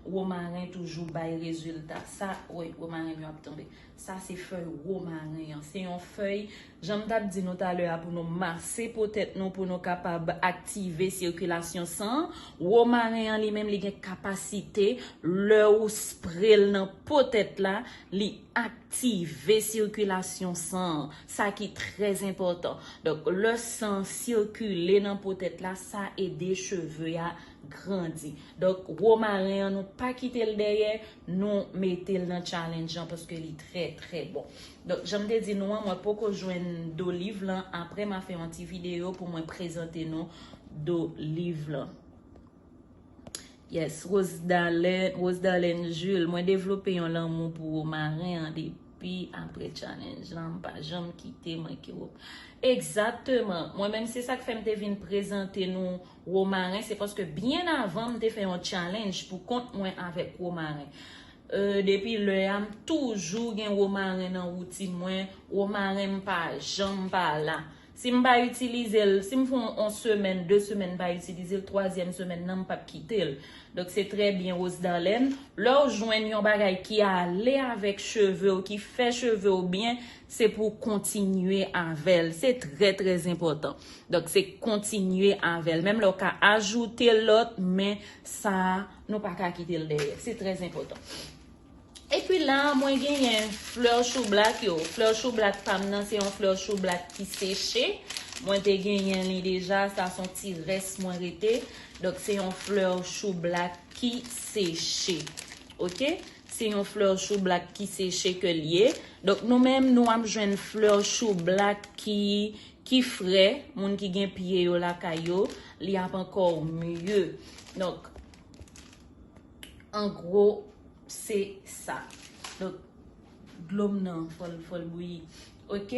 Romaren toujou bay rezilta. Sa, woy, romaren m yo ap tonbe. Sa se fèy romaren an. Se yon fèy, jan m t ap di nou talè a, pou nou mase po tèt nou, pou nou kapab aktive sikilasyon san an. Romaren an li menm li gen kapasite, lè ou spre l nan po tèt la, li aktive sikilasyon san an. Sa ki trè enpòtan. Donk, lè san sikile nan po tèt la, sa ede cheve a. grandi donk romaren an nou pa kitel dèyè nou metel nan challenge an paske li trè trè bon donk janm te di nou an mwen poko jwenn do liv lan aprè ma fè yon ti video pou mwen prezante nou do liv lan yes Rosedalene Jules mwen devlope yon lanmou pou romaren an depi aprè challenge lan mpa janm kite manke romaren egzateman mwen menm se sak fèm te vin prezante nou Romaren se paske byen avan m te fè yon challenge pou kont mwen avèk romaren. Euh depi lè a m toujou gen romaren nan woutin mwen, romaren m pa janm pa la. Si m pa itilize l, si m fon on semèn, de semèn m pa itilize l, twazyèm semèn nan m pap kite l. Donk se trè byen Rosdalene, lè w jwenn yon bagay ki ale avèk cheve w, ki fè cheve w byen, Se pou w kontinye avè l. Se trè trè enpòtan. Donk se kontinye avè l. Menm lè w ka ajoute lòt, men sa a nou pa ka kite l dèyè. Se trè enpòtan. E pi la a mwen genyen flè choublak yo. Flè choublak pa m nan se yon flè choublak ki seche. Mwen te genyen li deja. Sa son ti rès mwen rete. Donk se yon flè choublak ki seche. Ok? Se yon fleur choublak ki seche ke l ye. Donk nou menm nou ap jwenn fleur choublak ki ki fre, moun ki gen pye yo lakay yo, li ap ankò mye. Donk an gwo se sa. Donk dlo m nan fò l fò l bouyi. Ok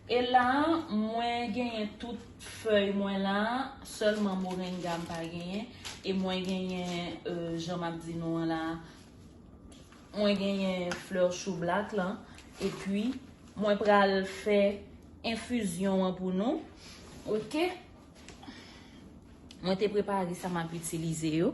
e la mwen genyen tout fèy mwen la, sèlman morenga m pa genyen e mwen genyen jan m ap di nou an la Mwen genyen fleur chou black lan epi mwen pral fè enfizyon an pou nou ok mwen te prepare sa map itilize yo.